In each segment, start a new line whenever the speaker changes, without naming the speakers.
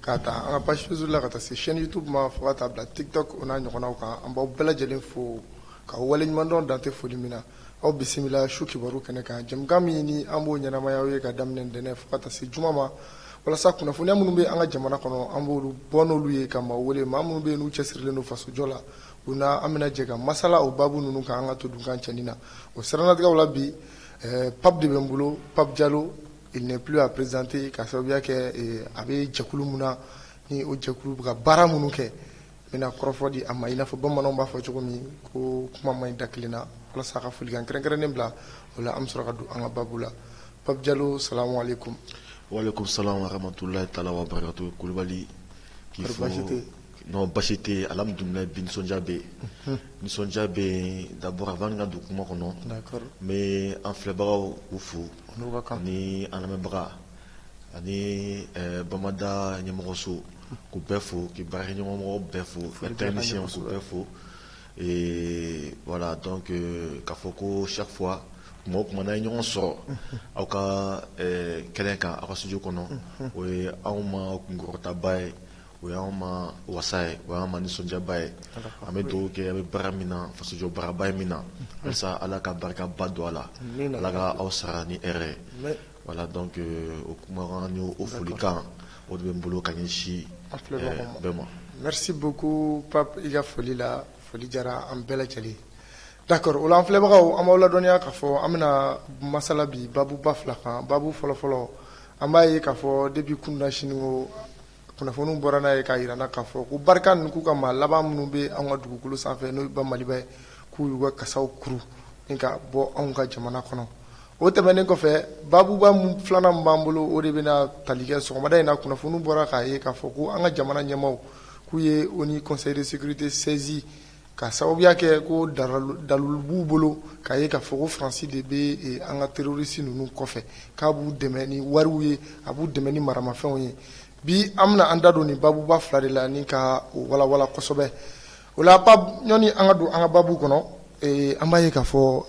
Ka taa an ka page Facebook la ka taa se chaîne YouTube ma fo ka taa bila TikTok o n'a ɲɔgɔnnaw kan an b'aw bɛɛ lajɛlen fo k'aw waleɲumandɔn dan tɛ foli min na aw bisimila su kibaru kɛnɛ kan jɛmukan min ni an b'o ɲɛnamaya aw ye ka daminɛ ntɛnɛn fo ka taa se juma ma walasa kunnafoniya minnu bɛ an ka jamana kɔnɔ an b'olu bɔ n'olu ye ka maaw wele maa minnu bɛ yen n'u cɛsirilen don fasojɔ la u na an bɛna jɛ ka masala o baabu ninnu kan an ka to dunkan cɛɲi na o siranatigɛw la bi eh, Pape de bɛ n bolo Pape Diallo Il n'est plus à présenter k'a sababuya kɛ ee, a bɛ jɛkulu min na ni o jɛkulu bɛ ka baara minnu kɛ n bɛna kɔrɔfɔ di a ma i n'a fɔ bamananw b'a fɔ cogo min ko kuma man ɲi da kelen na walasa a ka folikan kɛrɛnkɛrɛnnen bila o la an bɛ sɔrɔ ka don an ka babu la Pape Diallo salamu aleykum. Walekum
salam wa rahmatulahi taala wa barakatu Kulubali k'i fo basi tɛ non basi tɛ yen alhamdulilayi bi nisɔndiya bɛ yen nisɔndiya bɛ yen d'abord avant n ka don kuma kɔnɔ n bɛ
an
filɛbagaw u fo ni anbaga ani bamanan ɲɛmɔgɔso u bɛ fɔ k' barikakɛmɔgɔ bɛ fɔ fɛnmisɛnso bɛ fo wala dɔn ka fɔ ko safu mɔgɔ tumaumana ye ɲɔgɔn sɔrɔ aw ka kɛlɛ kan aw ka suju kɔnɔ o ye anw ma kunta ye O y'an ma wasa ye o y'an ma nisɔndiyaba ye an bɛ dugawu kɛ aw bɛ baara min na fasojɔ baaraba in min na walasa ala ka barikaba don a la ala ka aw sara ni hɛrɛ ye voilà donc o kumakan o folikan o de bɛ n bolo ka ɲɛsin bɛɛ ma merci
beaucoup Pape i ka foli la foli diyara an bɛɛ lajɛlen d'accord o la an filɛbagaw an b'aw ladɔnniya k'a fɔ an bɛna masala bi babuba fila kan babu fɔlɔfɔlɔ an b'a ye k'a fɔ depuis kunasini kunnafoniw bɔra n'a ye k'a jira an na k'a fɔ ko Barkhane ninnu k'u ka maa laban minnu bɛ anw ka dugukolo sanfɛ n'o ba Maliba ye k'u y'u ka kasaw kuru ni ka bɔ anw ka jamana kɔnɔ o tɛmɛnen kɔfɛ babuba filanan min b'an bolo o de bɛna tali kɛ sɔgɔmada in na kunnafoniw bɔra k'a ye k'a fɔ ko an ka jamana ɲɛmaaw k'u ye ONU Conseil de sécurité saisi K'a sababuya kɛ ko dalilu b'u bolo k'a ye k'a fɔ ko Faransi de bɛ an ka terorisi ninnu kɔfɛ k'a b'u dɛmɛ ni wariw ye a b'u dɛmɛ ni maramafɛnw ye bi an bɛna an da don nin babuba fila de la ni ka o walawala kosɛbɛ o la Pape yanni an ka don an ka baabu kɔnɔ an b'a ye k'a fɔ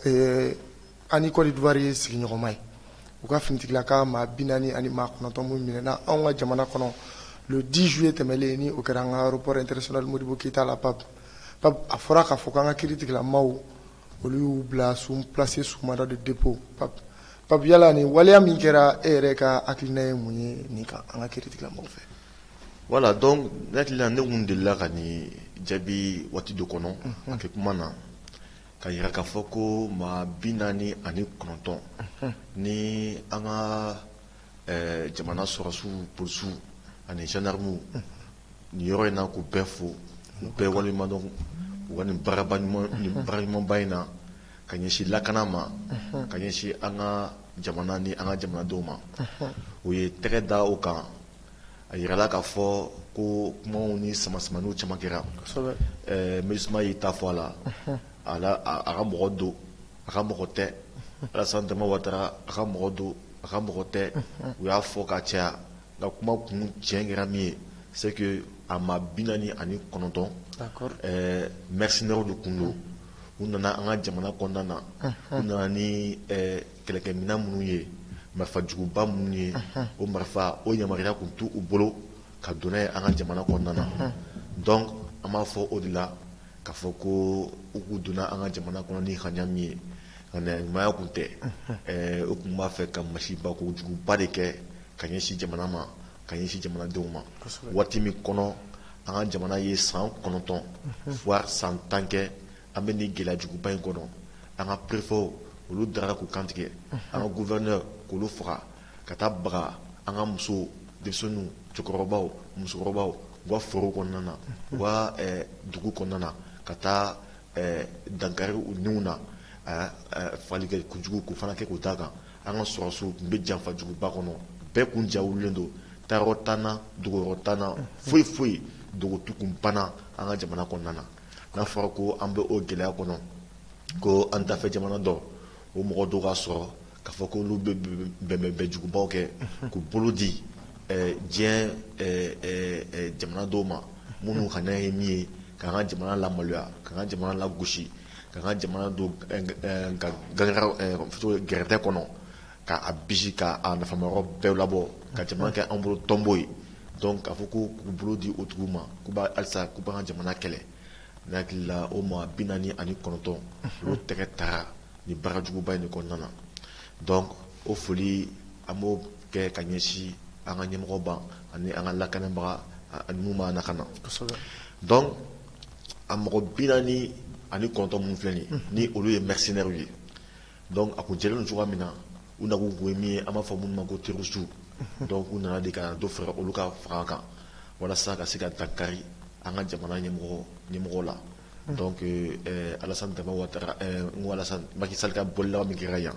An ni Côte d'Ivoire ye sigiɲɔgɔnma ye, u ka finitigilama maa 40 ani maa 9 minnu minɛna anw ka jamana kɔnɔ le 10 juillet tɛmɛlen ni o kɛra an ka aéroport international Modibo Keyita la Pape, a fɔra k'a fɔ k'an ka kiiritigilamaw olu y'u bila sous placé sous mandat de dépôt, Pape, yala nin waleya min kɛra e yɛrɛ ka hakilina ye mun ye nin kan an ka kiiritigilamaw fɛ? Voilà donc
ne hakili la ne tun delila ka nin jaabi waati dɔ kɔnɔ, un, un, a kɛ kuma na. ka yira k'a fɔ ko maa bi naani ani kɔnɔntɔn ni an ka jamana sɔrɔsiw polisiw ani zandaramuw nin yɔrɔ in na k'u bɛɛ fo u bɛɛ waleɲumandɔn u ka nin baaraɲumanba in na ka ɲɛsin lakana ma ka ɲɛsin an ka jamana ni an ka jamanadenw ma u ye tɛgɛ da u kan a yirala k'a fɔ ko kumaw ni samasamaniw caman kɛra MINUSMA y'i ta fɔ a la a a ka mɔgɔ don a ka mɔgɔ tɛ Alassane Dramane Ouattara a ka mɔgɔ don a ka mɔgɔ tɛ u y'a fɔ ka caya nka kuma kun tiɲɛ kɛra min ye c'est que a maa bi naani ani kɔnɔntɔn mercenaires de kun don u nana an ka jamana kɔnɔna na u nana ni kɛlɛkɛminɛn minnu ye marifa juguba minnu ye o marifa o yamaruya kun t'u bolo ka don n'a ye an ka jamana kɔnɔna na donc an b'a fɔ o de la k'a fɔ ko u kun donna an ka jamana kɔnɔ ni ŋaniya min ye ŋaniya ɲumanya kun tɛ u kun b'a fɛ ka masiba kojuguba de kɛ ka ɲɛsin jamana ma ka ɲɛsin jamanadenw ma waati min kɔnɔ an ka jamana ye san kɔnɔntɔn voire san tan kɛ an bɛ nin gɛlɛya juguba in kɔnɔ an ka perefew olu dara k'u kantigɛ an ka gouverneur k'olu faga ka taa baga an ka musow denmisɛnninw cɛkɔrɔbaw musokɔrɔbaw wa foro kɔnɔna na wa dugu kɔnɔna na ka taa dankari u niw na faali kɛ kojugu k'u fana kɛ k'u da kan an ka sɔrɔsiw tun bɛ janfajuguba kɔnɔ bɛɛ kun ja wulilen don taayɔrɔ t'an na dogoyɔrɔ t'an na foyi foyi dogotu kun banna an ka jamana kɔnɔna na n'a fɔra ko an bɛ o gɛlɛya kɔnɔ ko an dafɛ jamana dɔ o mɔgɔ dɔw ka sɔrɔ k'a fɔ ko olu bɛ bɛnbɛnbɛn jugubaw kɛ k'u bolo di diɲɛ jamana dɔw ma minnu ŋaniya ye min ye k'an ka jamana lamaloya k'an ka jamana lagosi k'an ka jamana don gɛrɛntɛ kɔnɔ k'a bisi k'a nafamayɔrɔ bɛɛ labɔ ka jamana kɛ an bolo tonbo ye k'a fɔ ko k'u bolo di o tigiw ma ko halisa k'u b'an ka jamana kɛlɛ ne hakili la o maa bi naani ani kɔnɔntɔn olu tɛgɛ taara nin baara juguba in kɔnɔna na donc o foli an b'o kɛ ka ɲɛsin an ka ɲɛmɔgɔba ani an ka lakanabaga minnu b'an lakana donc a mɔgɔ bi naani ani kɔnɔntɔn minnu filɛ nin olu ye mercenaires ye Donc a kun jɛlen don cogoya min na u nakun kun ye min ye an b'a fɔ minnu ma ko terroristes donc u nana de ka dɔ fara olu ka fanga kan walasa ka se ka dankari an ka jamana ɲɛmɔgɔw la donc Alassane Ouattara Macky Sall ka bɔ laban min kɛra yan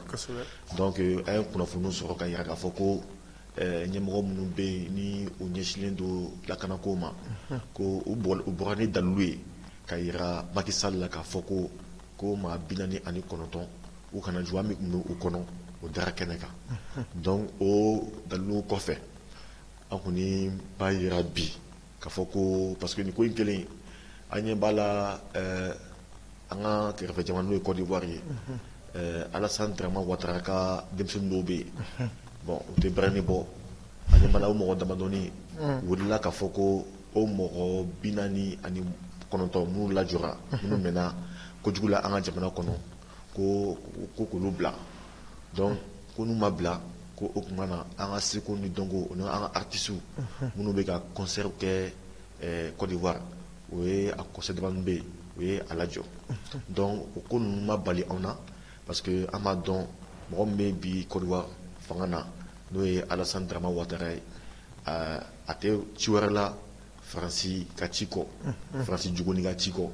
donc an ye kunnafoniw sɔrɔ ka yira k'a fɔ ko ɲɛmɔgɔ minnu bɛ yen ni u ɲɛsinlen don lakana ko ma ko u bɔra ni dalilu ye ka yira Macky Sall la k'a fɔ ko ko maa bi naani ani kɔnɔntɔn u kana juguya min tun b'u kɔnɔ o dara kɛnɛ kan donc o dalilu kɔfɛ an kɔni b'a jira bi k'a fɔ ko parce que nin ko in kelen an ɲɛ b'a la an ka kɛrɛfɛ jamana n'o ye Côte d'Ivoire ye Alassane Dramane Ouattara ka denmisɛn dɔw bɛ yen bon u tɛ bɛrɛni bɔ an ɲɛ b'a la o mɔgɔ damadɔni wulila k'a fɔ ko o mɔgɔ bi naani ani kɔnɔntɔn minnu lajɔra minnu minɛna kojugu la an ka jamana kɔnɔ ko ko k'olu bila donc ko n'u ma bila ko o tuma na an ka seko ni dɔnko na an ka artistes minnu bɛ ka concerts kɛ Côte d'Ivoire o ye a concert dama minnu bɛ yen u ye a lajɔ donc o ko ninnu ma bali anw na parce que an b'a dɔn mɔgɔ min bɛ bi Côte d'Ivoire fanga na n'o ye Alassane Dramane Ouattara ye a tɛ ci wɛrɛ la faransi ka ci kɔ faransi juguni ka ci kɔ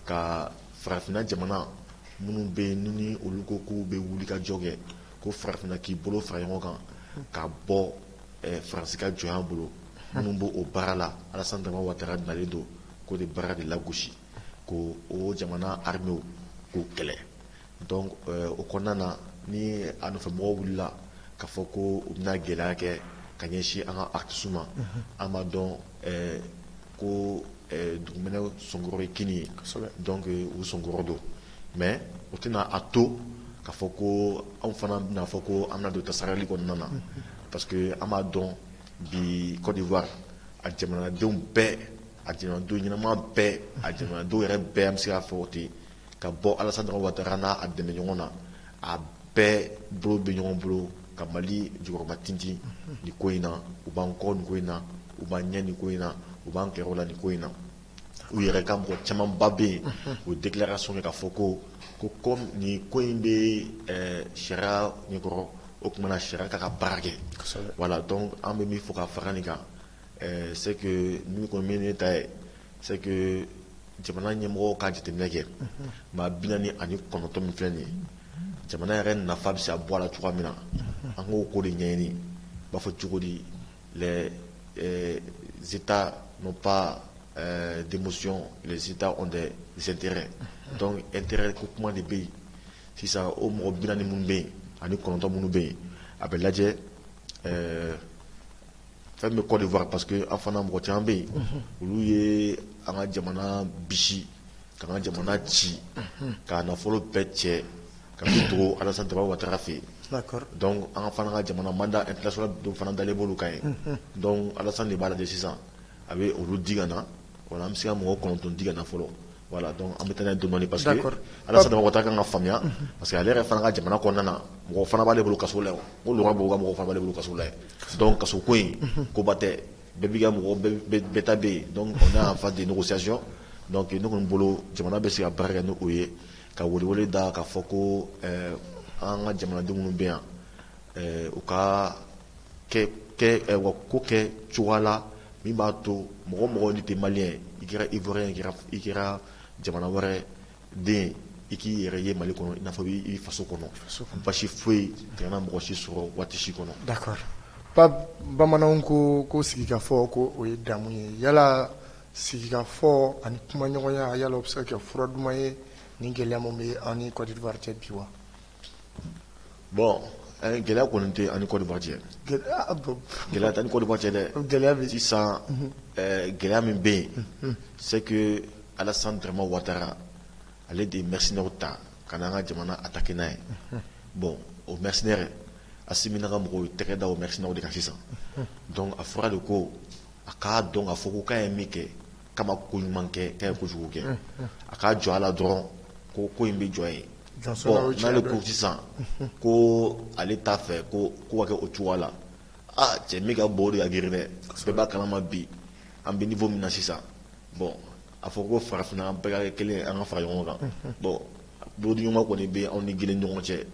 ka farafinna jamana minnu bɛ yen ni olu ko k'u bɛ wuli ka jɔ kɛ ko farafinna k'i bolo fara ɲɔgɔn kan ka bɔ faransi ka jɔnya bolo minnu bɛ o baara la Alassane Dramane Ouattara nalen don k'o de baara de lagosi k'o jamana armées k'u kɛlɛ Donc euh, o kɔnɔna na ni a nɔfɛ mɔgɔw wulila k'a fɔ ko u bɛna gɛlɛya kɛ ka ɲɛsin an ka artistes ma mhm. an b'a dɔn euh, ko euh, dugumɛnɛ sɔnkɔrɔ ye kinni ye donc u sɔnkɔrɔ don mais o tɛna a to k'a fɔ ko anw fana bɛna fɔ ko an bɛna don tasarali kɔnɔna na mhm. parce que an b'a dɔn bi Côte d'Ivoire a jamanadenw bɛɛ a jamanadenw ɲɛnama bɛɛ a jamanadenw yɛrɛ bɛɛ an bɛ se k'a fɔ ten ka bɔ Alassane Dramane Ouattara n'a a dɛmɛ ɲɔgɔn na a bɛɛ bolo bɛ ɲɔgɔn bolo ka mali jukɔrɔma tintin nin ko in na u b'an kɔ nin ko in na u b'an ɲɛ nin ko in na u b'an kɛrɛ la nin ko in na u yɛrɛ ka mɔgɔ camanba bɛ yen u déclaration kɛ k'a fɔ ko ko comme nin ko in bɛ sariya ɲɛkɔrɔ o tuma na sariya k'a ka baara kɛ voilà donc an bɛ min fɔ ka fara nin kan Ɛɛ c'est que min kɔni ye ne ta ye c'est que jamana ɲɛmɔgɔw ka jateminɛ kɛ maa 49 min filɛ nin ye jamana yɛrɛ nafa bɛ se ka bɔ a la cogoya min na an k'o ko de ɲɛɲini i b'a fɔ cogo di les Etats n'ont pas d'émotion les Etats ont des intérêts donc intérêt ko kuma de bɛ yen sisan o mɔgɔ 40 minnu bɛ yen ani 9 minnu bɛ yen a bɛ lajɛ ɛɛ Fɛn bɛ Côte d'Ivoire parce que an fana mɔgɔ caman bɛ yen olu ye an ka jamana bisi k'an ka jamana ci k'a nafolo bɛɛ cɛ ka to Alassane Dramane Ouattara fɛ yen donc an fana ka jamana mandat international dɔ fana dalen b'olu kan yen donc Alassane de b'a lajɛ sisan a bɛ olu di na Wa an bɛ se ka mɔgɔ kɔnɔntɔn di na fɔlɔ wala dɔn an bɛ taa dumuni pa que ala saba mɔgɔ taa ka faamuya parce que ale yɛrɛ fana ka jamana kɔnɔna na mɔgɔ fana b'ale bolo kaso la ko b' ka mɔgɔ fana bolo kaso la dɔn kaso ko in koba tɛ bɛɛ' mɔgɔ taa bɛ n'a fa di sayay dɔnku ne bolo jamana bɛ se ka baara kɛ n' o ye ka wuli da ka fɔ ko an ka jamanadenw bɛ yan u ka ko kɛ cogoya la min b'a to mɔgɔ mɔgɔ ni tɛ malien i kɛra ivoirien i kɛra jamana wɛrɛ den i k'i yɛrɛ ye Mali kɔnɔ i n'a fɔ i faso kɔnɔ basi foyi tɛna mɔgɔ si sɔrɔ waati si kɔnɔ
d'accord bamananw ko ko sigikafɔ ko o ye damu ye yala sigikafɔ ani kumaɲɔgɔnya yala o bɛ se ka kɛ fura duman ye ni gɛlɛya min bɛ an ni Côte d'Ivoire cɛ bi wa
bon gɛlɛya kɔni tɛ an ni Côte d'Ivoire cɛ gɛlɛya t'an ni Côte d'Ivoire cɛ dɛ gɛlɛya bɛ sisan gɛlɛya min bɛ yen c'est que Alassane Dramane Ouattara ale de mercenaires ta ka na an ka jamana attaquer n'a ye bon o mercenaires Assimi n'a ka mɔgɔw tɛgɛ da o mercenaires de kan sisan donc a fɔra de ko a k'a dɔn ka fɔ k'a ye min kɛ k'a ma koɲuman kɛ k'a ye kojugu kɛ a ka jɔ a la dɔrɔn ko ko in bɛ jɔ yen sisan ko ale t'a fɛ ko ko ka kɛ o cogoya la cɛ min ka bon o de ka girin dɛ bɛɛ b'a kalama bi an bɛ niveau min na sisan bon a fɔ ko farafinna an bɛɛ kelen an ka fara ɲɔgɔn kan bon bolodiɲɔgɔnma kɔni bɛ anw ni Guinée ɲɔgɔn cɛ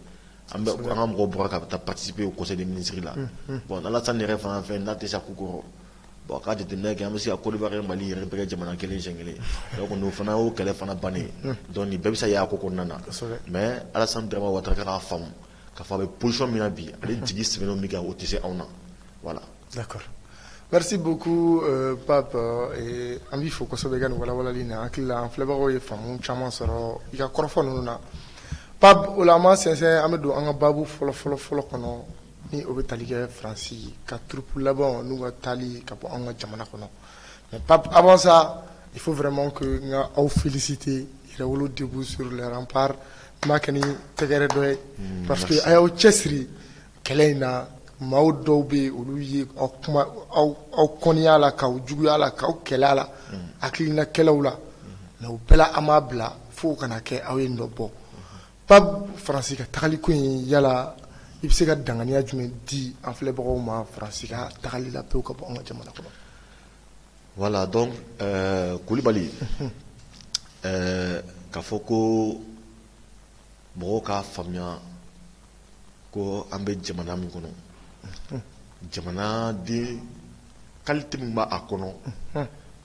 an bɛ an ka mɔgɔ bɔra ka taa participer au conseil des ministres la bon n'Alassane yɛrɛ fana fɛ n'a tɛ se a ko kɔrɔ Bon k'a jateminɛ kɛ an bɛ se ka Côte d'Ivoire Mali yɛrɛ bɛɛ kɛ jamana kelen siɲɛ kelen o fana o kɛlɛ fana bannen donc nin bɛɛ bɛ se y'a ko kɔnɔna na mais Alassane Dramane Ouattara k'a faamu k'a fɔ a bɛ position min na bi ale jigi sɛmɛnen min kan o tɛ se anw na
voilà merci beaucoup Pape an b'i fo kosɛbɛ i ka nin walawalali na an hakili la an filɛbagaw ye faamu caman sɔrɔ i ka kɔrɔfɔ ninnu na Pape o la an ma sɛnsɛn an bɛ don an ka baabu fɔlɔ fɔlɔ fɔlɔ kɔnɔ ni o bɛ tali kɛ faransi ka troupe laban n'u ka taali ka bɔ an ka jamana kɔnɔ mais Pape avant ça il faut vraiment que n ka aw féliciter Yɛrɛwolo debout sur les remparts n b'a kɛ ni tɛgɛrɛ dɔ ye parce que a y'aw cɛsiri kɛlɛ in na maa dɔw bɛ yen olu ye aw kuma aw kɔniya la k'aw juguya la k'aw kɛlɛ la hakilina kɛlɛw la mais o bɛɛ la aw m'a bila fo o kana kɛ aw ye dɔ bɔ Pape faransi ka tagali ko in yala i bɛ se ka danganiya jumɛn di an filɛbagaw ma faransi ka tagali la pewu ka bɔ an ka jamana kɔnɔ
voilà donc Kulibali ɛɛ k'a fɔ ko mɔgɔw k'a faamuya ko an bɛ jamana min kɔnɔ jamanaden qualité min b' a kɔnɔ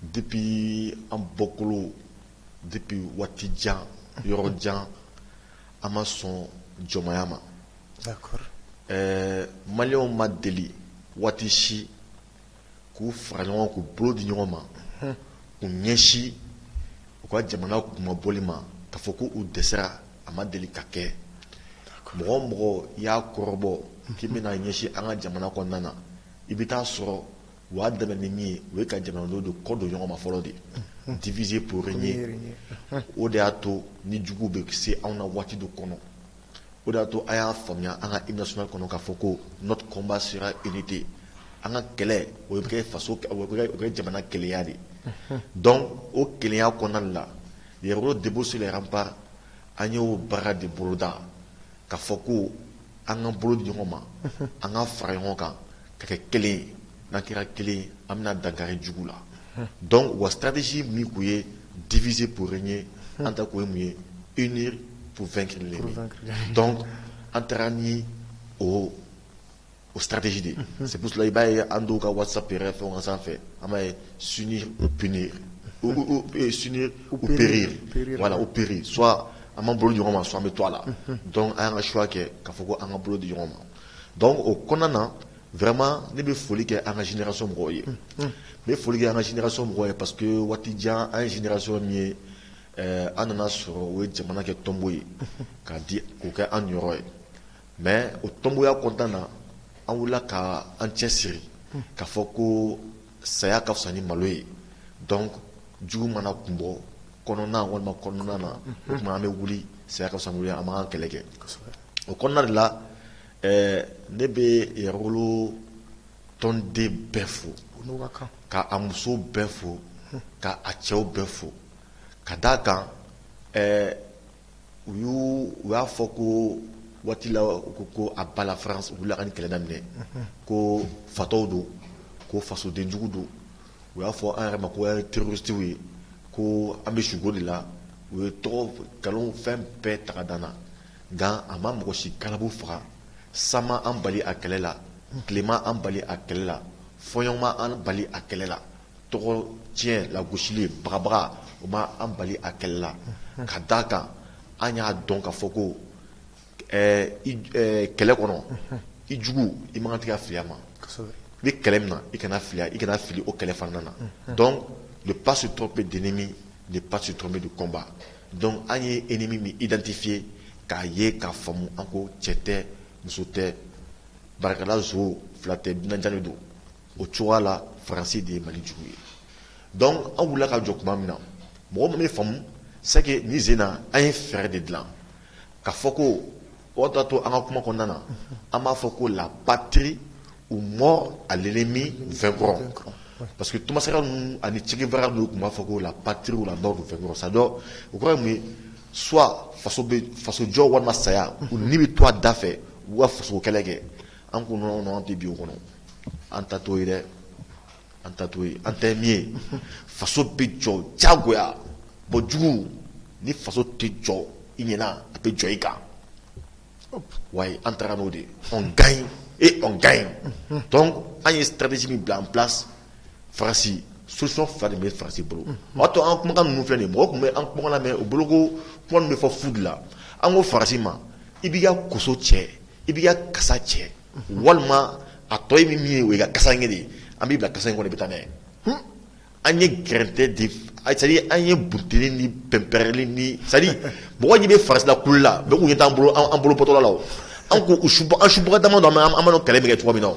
depuis an bɔkolo Depuis waati jan yɔrɔ jan an ma sɔn jɔnmaya
ma ɛɛ
maliyɛnw ma deli waati si k'u fara ɲɔgɔn k'u bolo di ɲɔgɔn ma k'u ɲɛsin u ka jamana kunmabɔli ma k'a fɔ ko u dɛsɛra a ma deli ka kɛ mɔgɔ o mɔgɔ y'a kɔrɔbɔ k'i bɛna ɲɛsin an ka jamana kɔnɔna na i bɛ t'a sɔrɔ u y'a daminɛ ni min ye o ye ka jamanadenw de kɔ don ɲɔgɔn ma fɔlɔ de diviser pour régner o de y'a to ni juguw bɛ se anw na waati dɔ kɔnɔ o de y'a to an y'a faamuya an ka hymne national kɔnɔ k'a fɔ ko notre combat sera unité an ka kɛlɛ o bɛ kɛ faso o bɛ kɛ jamana kelenya de donc o kelenya kɔnɔna de la Yɛrɛwolo Debout sur les remparts an y'o baara de boloda k'a fɔ ko An ka bolo ɲɔgɔn ma an ka fara ɲɔgɔn kan ka kɛ kelen n'an kɛra kelen an bɛna dankari jugu la dɔn wa siradatisi min tun ye difisi pur ye an ta ko mun ye i ni pfɛn kelen an taara ni o o siradatsi de sila i b'a ye an ka wasa fɛn ka sanfɛ an b'a ye sun p ye sun u bere wala u bere s An b'an bolo di ɲɔgɔn ma soit an bɛ to a la donc an y'an ka choix kɛ k'a fɔ ko an ka bolo di ɲɔgɔn ma donc o kɔnɔna na vraiment ne bɛ foli kɛ an ka génération mɔgɔw ye n bɛ foli kɛ an ka génération mɔgɔw ye parce que waati jan an ye génération min ye an nana sɔrɔ u ye jamana kɛ tonbo ye k'a di k'o kɛ an niyɔrɔ ye mais o tonboya kɔnɔna na an wulila ka an cɛsiri k'a fɔ ko saya ka fisa ni malo ye donc jugu mana kun bɔ kɔnɔna walima kɔnɔna na o tuma an bɛ wuli saya ka fisa ni malo ye an b'an kɛlɛ kɛ o kɔnɔna de la ɛɛ ne bɛ yɛrɛwolo tɔnden bɛɛ fo ka a musow bɛɛ fo ka a cɛw bɛɛ fo ka d'a kan ɛɛ u y' u y'a fɔ ko waati la ko à bas la France u wulila ka nin kɛlɛ daminɛ ko fatɔw don ko fasodenjugu don u y'a fɔ an yɛrɛ ma ko an ye terroristew ye ko an bɛ sugo de la u ye tɔgɔ nkalon fɛn bɛɛ ta ka d'an na nka a ma mɔgɔ si galabu faga san ma an bali a kɛlɛ la tile ma an bali a kɛlɛ la fɔɲɔ ma an bali a kɛlɛ la tɔgɔ tiɲɛ lagosili bagabaga o ma an bali a kɛlɛ la ka d'a kan an y'a dɔn ka fɔ ko kɛlɛ kɔnɔ i jugu i man kan ka fili a ma i bɛ kɛlɛ min na i kana fili o kɛlɛ fana na donc ne pas se tromper d'ennemi ne pas se tromper de combat donc an ye ennemi min identifier k'a ye k'a faamu an ko cɛ tɛ muso tɛ barikalazo fila tɛ dunanja don o cogoya la faransi de ye mali jugu ye donc an wulila ka jɔ tuma min na mɔgɔ min bɛ faamu c'est que nin sen in na an ye fɛɛrɛ de dilan ka fɔ ko o t'a to an ka kuma kɔnɔna na an b'a fɔ ko la patrie ou mort à l'ennemi vaincrons parce que Thomas Sankara ninnu ani Che Guevara ninnu tun b'a fɔ ko la patrie ou la mort nous vaincrons c'est-à-dire o kɔrɔ ye soit faso jɔ walima saya u ni bɛ to a da fɛ u ka faso kɛlɛ kɛ an ko an tɛ bi o kɔnɔ an ta to dɛ an ta to an tɛ min ye faso bɛ jɔ jagoya bɔ jugu ni faso tɛ jɔ i ɲɛ na a bɛ jɔ i kan wa an taara n'o de on gagne et on gagne donc an ye stratégie min bila en place farasi solution fila de bɛ farasi bolo o to an kumakan ninnu fɛ ni mɔgɔ tun bɛ an kumakan mɛn u boloko kuma bɛ fɔ fu la an ko farasi ma i b'i ka koso cɛ I b'i ka kasa cɛ walima a tɔ ye min ye o i ka kasa kelen ye an b'i bila kasa in kɔnɔ i bɛ taa n'a ye an ye gɛrɛntɛ de c'est-à-dire an ye but ni bɛnpɛrɛnli ni c'est-à-dire mɔgɔ bɛ farasi la kula tun ye t'an bolo an bolo bɔtɔla la an ko subaga dama an amadu kɛlɛ min kɛ cogo min na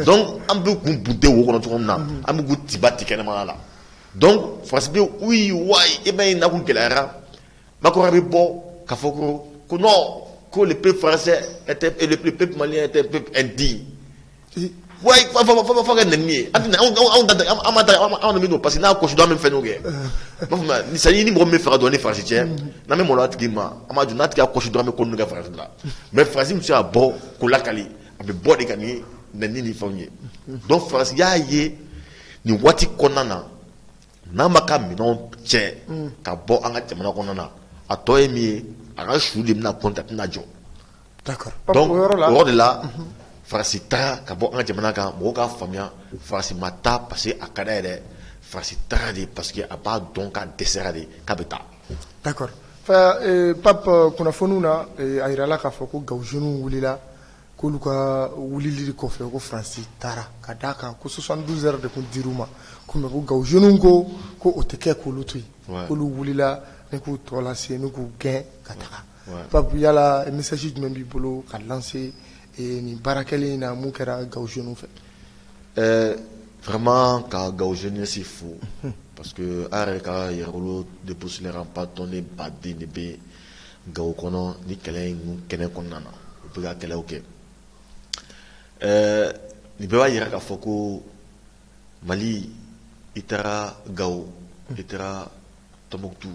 donc an bɛ kun bunte wo kɔnɔ cogo min na an bɛ tiba tɛ kɛnɛma la donc farasi bɛ u ye wa i ma ye na ko gɛlɛyara Macron bɛ bɔ ka fɔ ko ko ko le peuple français et le peuple malien di wa fa ka nin ye an anw min don parce que n'a ko min fɛn kɛ o sa ɲini mɔgɔ min faga an ni farasi cɛ na bɛ mɔn tigi ma a ma n'a tɛ kosi dɔrɔn min ko kɛ farasi la mais farasi bɛ se' bɔ ko lakali a bɛ bɔ de ka ni ni ni fɛn ye donc farasi y'a ye nin waati kɔnɔna na N'a m'a ka minɛn cɛ ka bɔ an ka jamana kɔnɔ na a tɔ ye min ye a ka su de bɛna kɔn tɛna jɔ o de la farasi taa ka bɔ an ka jamana kan mɔgɔw k'a faamuya farasi ma taa parce que a ka d'a ye dɛ farasi taa de parce que a b'a dɔn k'a dɛsɛra de k'a bɛ
taa pap kunnafoniw na a jirala k'a fɔ ko Gao jeunew wulila K'olu ka wulili kɔfɛ ko Faransi taara ka d'a kan ko 72 heures de tun dir'u ma ko mais ko Gawo jeunes ko ko o tɛ kɛ k'olu to yen, ouais, k'olu wulila ni k'u tɔ lase ni k'u gɛn ka taga, ouais, Pape yala message jumɛn b'i bolo ka lancer ee nin baara kɛlen in na min kɛra Gawo jeunes fɛ? Ɛɛ vraiment
ka Gawo jeunesse fo parce que an yɛrɛ ka yɛrɛwolo debout sur les remparts tɔnden baden de bɛ gawo kɔnɔ ni kɛlɛ kɛnɛ kɔnɔna na u bɛ ka kɛlɛ kɛ ɛɛ nin bɛɛ b'a jira k'a fɔ ko mali i taara gawo i taara tumutu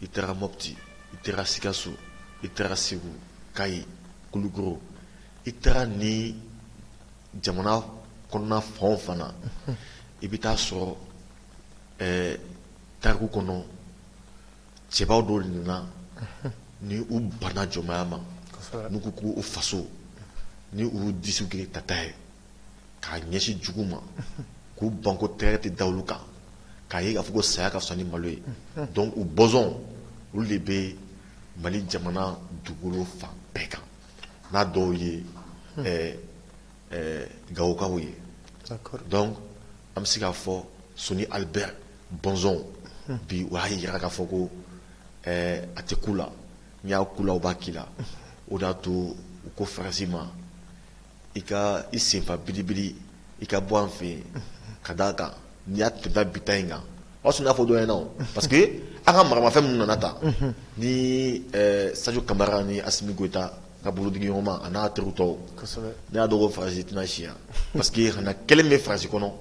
i taara mɔti i taara sikaso i taara segu kayi kulukoro i taara nin jamana kɔnɔna fan o fan na i bɛ taa sɔrɔ ɛɛ tariku kɔnɔ cɛbaw dɔw nana ni u banna jɔnmaya ma n'u ko k'u faso ni u disiw kɛra tata ye k'a ɲɛsin jugu ma k'u ban ko tɛgɛ tɛ da olu kan k'a ye k'a fɔ ko saya ka fisa ni malo ye donc u bɔnsɔn olu de bɛ mali jamana dugukolo fan bɛɛ kan n'a dɔw ye gawokaw ye donc an bɛ se k'a fɔ soni ali bɛri bɔnsɔnw bi u y'a jira k'a fɔ ko a tɛ k'u la n'i y'a k'u la u b'a k'i la o de y'a to u ko faransi ma i ka i senfa bilibili i ka bɔ an fɛ yen ka d'a kan n y'a tunda bi ta in kan o y'a sɔrɔ ne y'a fɔ dɔ ɲɛna parce que an ka maramafɛn minnu nana ta ni sajo kamara ni asimi goyita ka bolodiɲɔgɔnma a n'a terikɛ tɔw ne y'a dɔn ko faransi tɛna si yan parce que kana kelen bɛ faransi kɔnɔ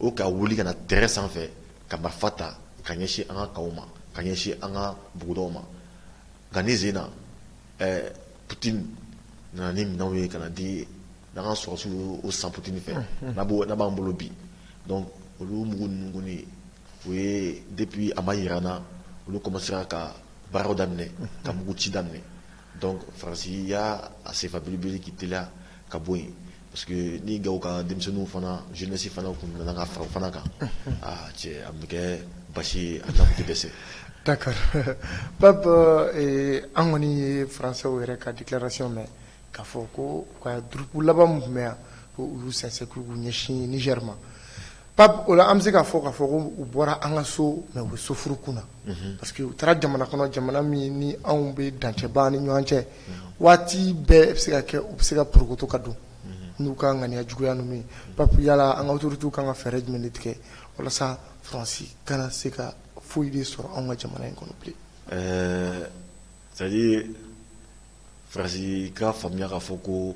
o ka wuli ka na terrain sanfɛ ka marifa ta ka ɲɛsin an ka camp ma ka ɲɛsin an ka bugudaw ma nka ne sen putini nana ni minɛnw ye ka di an ka sɔrɔdasiw o san putini fɛ n'a b'an bolo bi olu mugu ninnu ye o ye depuis a ma jirana olu kɔmansera ka baaraw daminɛ ka mugu ci daminɛ Dɔn farasi y ya a senfaele k'i t ka bɔ yen parce que ni ga ka denmisɛnninw fana zɛsi fana tun nana ka fara fana kan aa cɛ an bɛ kɛ basi an bɛ se ta
ba an kɔni ye faransaw yɛrɛ ka dilarasi mɛn ka fɔ ko ka dugu laban tun bɛ yan ko olu sase ɲɛsin ni yɛrɛma Pape o la an bɛ se k'a fɔ k'a fɔ ko u bɔra an ka so mais u bɛ soforokun na parce que u taara jamana kɔnɔ jamana min ni anw bɛ dancɛ b'an ni ɲɔgɔn cɛ waati bɛɛ bɛ se ka kɛ u bɛ se ka porokoto ka don n'u ka ŋaniya juguya ninnu ye Pape yala an ka autorités kan ka fɛɛrɛ jumɛn de tigɛ walasa France kana se ka foyi de sɔrɔ anw ka jamana in kɔnɔ bilen. Ɛɛ
c'est à dire France ka faamuya k'a fɔ ko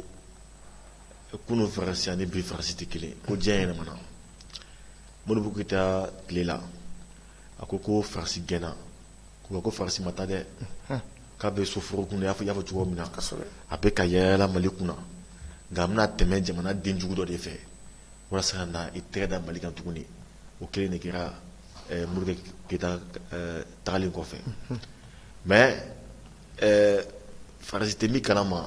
kunun faransi ani bi faransi tɛ kelen ko diɲɛ yɛlɛmana modibo keyita tile la a ko ko faransi gɛnna ko ko faransi ma taa dɛ k'a bɛ soforokun y'a fɔ y'a fɔ cogo min na a bɛ ka yaala mali kunna nka a bɛna tɛmɛ jamanaden jugu dɔ de fɛ walasa ka na i tɛgɛ da mali kan tuguni o kelen de kɛra eh, modibo keyita eh, tagalen kɔfɛ mais eh, faransi tɛ min kalama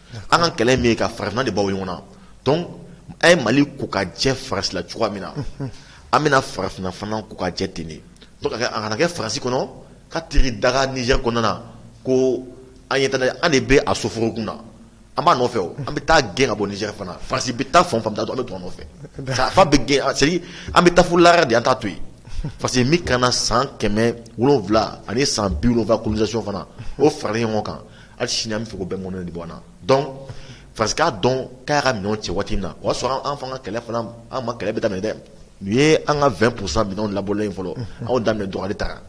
An ka kɛlɛ min ye ka farafinna de bɔ ɲɔgɔn na donc an ye mali ko ka jɛ faransi la cogoya min na an bɛna farafinna fana ko ka jɛ ten de a kana kɛ faransi kɔnɔ k'a taar'i daga Niger kɔnɔna na ko an ye an de bɛ a soforokun na an b'a nɔfɛ an bɛ taa a gɛn ka bɔ Niger fana faransi bɛ taa fan o fan an bɛ to a nɔfɛ fo an b'a gɛn c'est-à-dire an bɛ taa lara de an t'a to yen parce que min k'an na san kɛmɛ wolonwula ani san biwula colonisation fana o fara ɲɔgɔn kan Hali sini an bɛ fɛ k'o bɛɛ mɔnɛ de bɔ an na donc France k'a dɔn k'a y'a ka minɛnw cɛ waati min na o y'a sɔrɔ an fana ka kɛlɛ fana an ma kɛlɛ bɛ daminɛ dɛ nin ye an ka 20 pour cent minɛnw labɔlen ye fɔlɔ an y'o daminɛ dɔgɔyali ta kan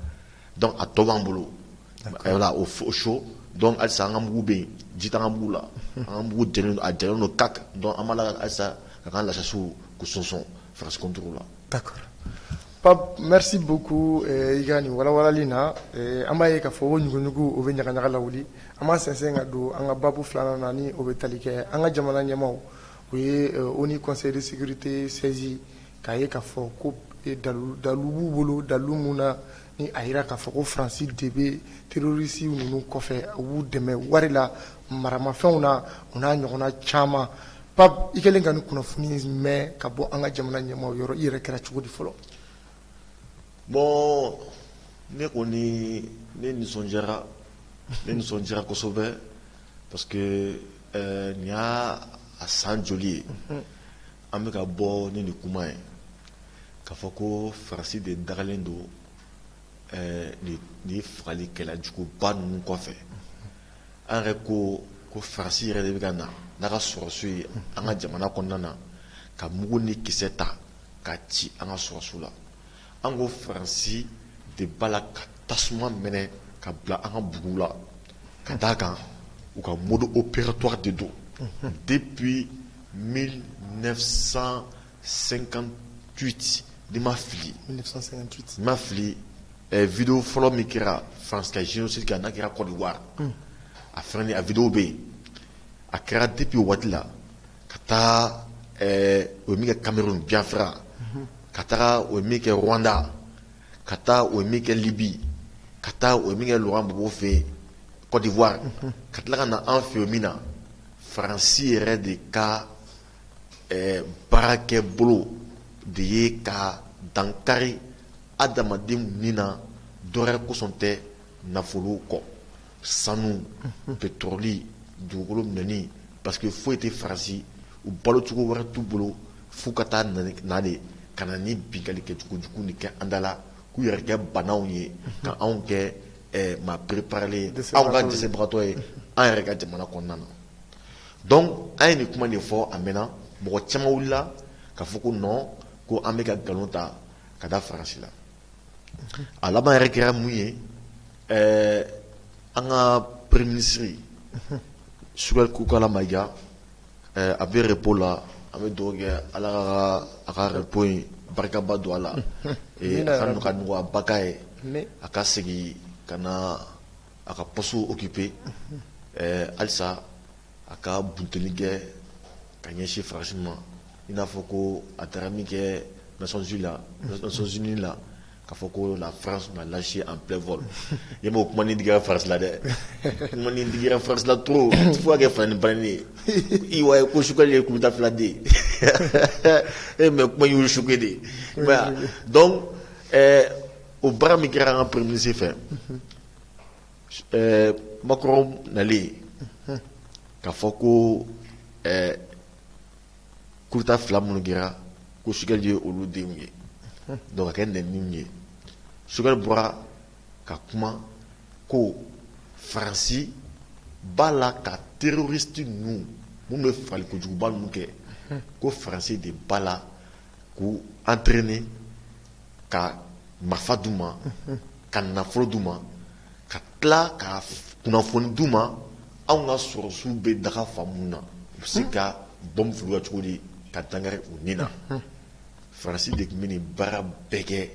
donc a tɔ b'an bolo voilà o chaud donc halisa an ka mugu bɛ yen ji t'an ka mugu la an ka mugu jalen don a jalen don kaki donc an b'a la halisa k'an ka lasasiw k'u soso France contre la
Pape merci beaucoup i ka nin walawalali in na an b'a ye k'a fɔ ko ɲuguɲugu o bɛ ɲagaɲaga lawuli an b'an sɛnsɛn ka don an ka baabu filanan na ni o bɛ tali kɛ an ka jamana ɲɛmaaw o ye ONU Conseil de sécurité saisi k'a ye k'a fɔ ko dalu dalu b'u bolo dalu mun na ni a jira k'a fɔ ko faransi de bɛ terroristes ninnu kɔfɛ u b'u dɛmɛ wari la maramafɛnw na o n'a ɲɔgɔnna caman pape i kɛlen ka nin kunnafoni mɛn ka bɔ an ka jamana ɲɛmaaw yɔrɔ i yɛrɛ kɛra cogo di fɔlɔ
bon ne kɔni ne nisɔndiyara ne nisɔndiyara kosɛbɛ parce que nin y'a a san joli ye An bɛ ka bɔ ni nin kuma ye k'a fɔ ko faransi de dagalen don nin fagalikɛla juguba ninnu kɔfɛ an yɛrɛ ko ko faransi yɛrɛ de bɛ ka na n'a ka sɔrɔsiw ye an ka jamana kɔnɔna na ka mugu ni kisɛ ta ka ci an ka sɔrɔsiw la An ko faransi de b'a la ka tasuma minɛ ka bila an ka bugu la ka d' a kan u ka mɔ o ptɔ de don de bi mi san senkan tu ni ma
fili
ma fili v fɔlɔ min kɛra faransi ka n'a kɛra kɔdiwa a fana a vw bɛ yen a kɛra dipi waati la ka taa o ye min kɛ Cameroun Biafra ka taga o ye min kɛ Rwanda ka taa o ye min kɛ Libye ka taa o ye min kɛ Laurent Gbagbo fɛ yen Côte d'Ivoire ka tila ka na an fɛ min na faransi yɛrɛ de ka baarakɛbolo de ye ka dankari adamadenw ni na dɔwɛrɛ kosɔn tɛ nafolo kɔ sanu petroli dugukolo minɛni parce que foyi tɛ faransi u balo cogo wɛrɛ t'u bolo f'u ka taa na de ka na ni binkali kɛcogo jugu nin kɛ an da la k'u yɛrɛ kɛ baanaw ye ka anw kɛ maa pereplen anw kɛ dɛsɛbagatɔ ye an yɛrɛ ka jamana kɔnɔna na donc an ye nin kuma de fɔ a mɛnna mɔgɔ caman wulila k'a fɔ ko non ko an bɛ ka nkalon ta ka da faransi la a laban yɛrɛ kɛra mun ye ɛɛ an ka premier ministre Choguel Kokalla Maïga ɛɛ a bɛ repos la an bɛ dugawu kɛ Ala ka a ka repos in barikaba don a la ee a ka nɔgɔya ka nɔgɔyaba k'a ye a ka segin ka na a ka poste occuper ɛɛ halisa a ka bunteli kɛ ka ɲɛsin France ma. i n'a fɔ ko a taara min kɛ naonsi la sonsininin la ka fɔ ko la farasi lasi an bɛɛ fɔ i b'o kuma ni dra farasila dɛ digira farasila to fo kɛ fa ni ban ye i wa ye ko sukali ye kun dafiladen e mɛ kuma y' su de dɔn o bara min kɛra an ka pmisi fɛ makɔrɔn nalen ka fɔ ko kudeta fila minnu kɛra ko Choguel ye olu denw ye donc k'a kɛ nɛniw ye Choguel bɔra ka kuma ko faransi b'a la ka terroriste ninnu minnu bɛ fagali kojuguba ninnu kɛ ko faransi de b'a la k'u entraîner ka marifa d'u ma ka nafolo d'u ma ka tila ka kunnafoni d'u ma anw ka sɔrɔsiw bɛ daga fan minnu na u bɛ se hmm. ka bɔmu fili u kan cogo di ka dankari u ni na hmm. faransi de tun bɛ nin baara bɛɛ kɛ